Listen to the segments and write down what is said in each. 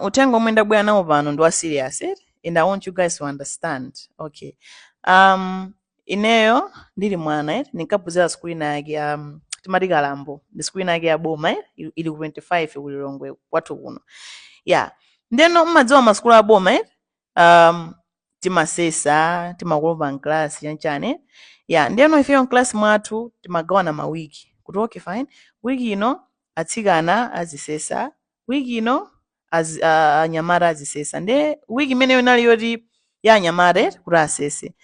uthenga omwe ndabwera nawo pano ndi wa serious eh? and i want you guys to understand okay um ineyo ndili mwana eh? ndinkaphunzira sikuli nayake um, timati kalambo ndi sukulu nayake ya boma eh? ili ili ku 25 ku lilongwe kwathu kuno yeah ndeno mmadziwa masukulu a boma eh? um, timasesa timakolopa mklasi chanchani eh? yeah ndeno ifeyo mklasi mwathu timagawana mawiki kuti okay fine wiki ino atsikana azisesa week ino azi- a- a- anyamata azisesa nde week imeneyo inali yoti ya anyamata eti kuti asese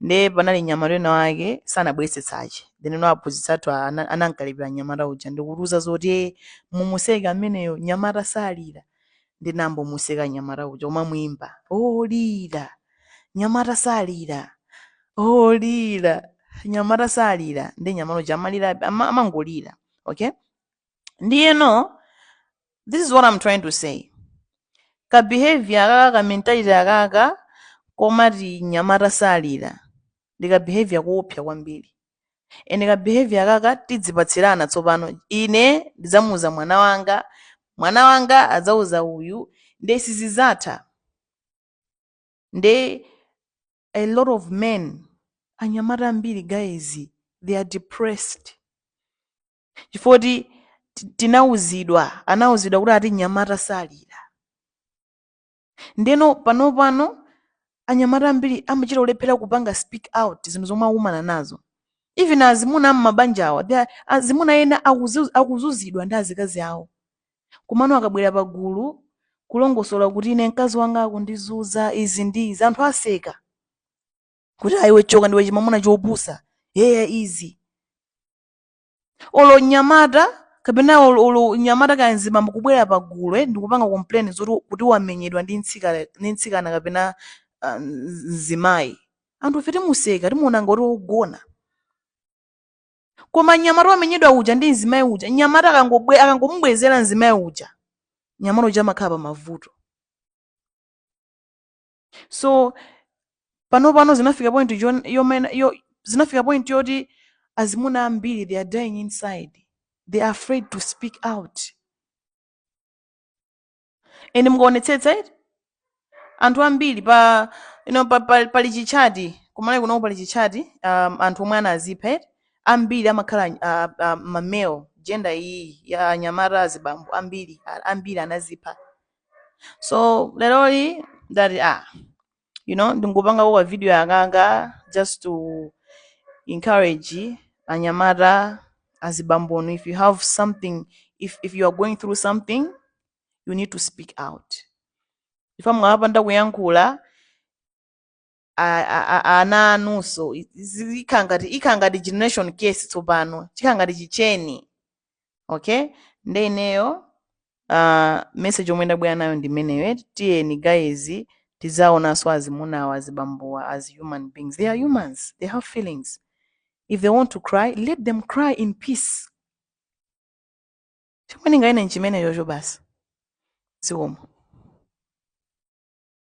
nde panali nyamata ena wake sanabweretse tsache then no aphunzitsa athu ana- anankalipira nyamata uja ndi kutiuza zoti "Eh, mumuseke ameneyo nyamata salira nde tinayamba omuseka nyamata uja kumamuimba oh lira nyamata salira oh lira nyamata salira ndi nyamata uja amalira ama- amangolira okay ndiyeno this is what i'm trying to say ka behavior akaka ka mentality akaka komati nyamata salira ndi ka behavior koopsa kwambiri and ka behavior akaka tidzipatsirana tsopano ine ndidzamuuza mwana wanga mwana wanga adzauza uyu nde sizizatha nde a lot of men anyamata ambiri guys they are depressed chifoti ti- tinauzidwa anauzidwa kuti ati mnyamata salira ndeno panopano anyamata ambiri amachita ulephera kupanga speak out zinthu zomwe akumana nazo even azimuna am'mabanja awa they are- azimuna ena akuzu- akuzuzidwa ndi azikazi awo komano akabwera pa gulu kulongosola kuti ine mkazi wanga akundizuza izi ndi izi anthu aseka kuti a iwe choka ndiwe chimamuna chopusa yeya izi olo mnyamata kapena olo olo mnyamata kaya mzibambo kubwera pa gulu ndi kupanga complain zoti kuti wamenyedwa ndi mtsikana ndi mtsikana kapena ah, mz- mzimayi anthu ife timuseka timuona ngoti wogona koma mnyamata wamenyedwa uja ndi mzimayi uja mnyamata akangobwe- akangomubwezera mzimayi uja mnyamata uja amakhala pa mavuto so pano pano zinafika point jo- yomena- yo- zinafika point yoti azimuna ambiri they are dying inside they are afraid to speak out and mukaonetsetsa eti anthu ambiri pa you know, pa, pa, pali chichati ku malawi kunoku pali chichati um, anthu omwe anazipha eti ambiri amakhala uh, uh, mamale gender iyi ya anyamata azibambo ambiri a- ambiri anazipha so leroli ndati ah you know ndingopangako ka video akaka just to encourage anyamata azibambonu if you have something if, if you are going through something you need to speak out ifa mukapanda kuyankhula a- a- a- a- ana anunso i- izi- ikhala ngati ikhala ngati generation case tsopano chikhala ngati chicheni okay nde ineyo uh, message yomwe ndabwera nayo ndi imeneyo eti tiyeni guys tidzaonanso azimunawa azibambuwa as human beings they are humans they have feelings if they want to cry let them cry in peace chomwe ndinganene nchimeneyocho basi zikomo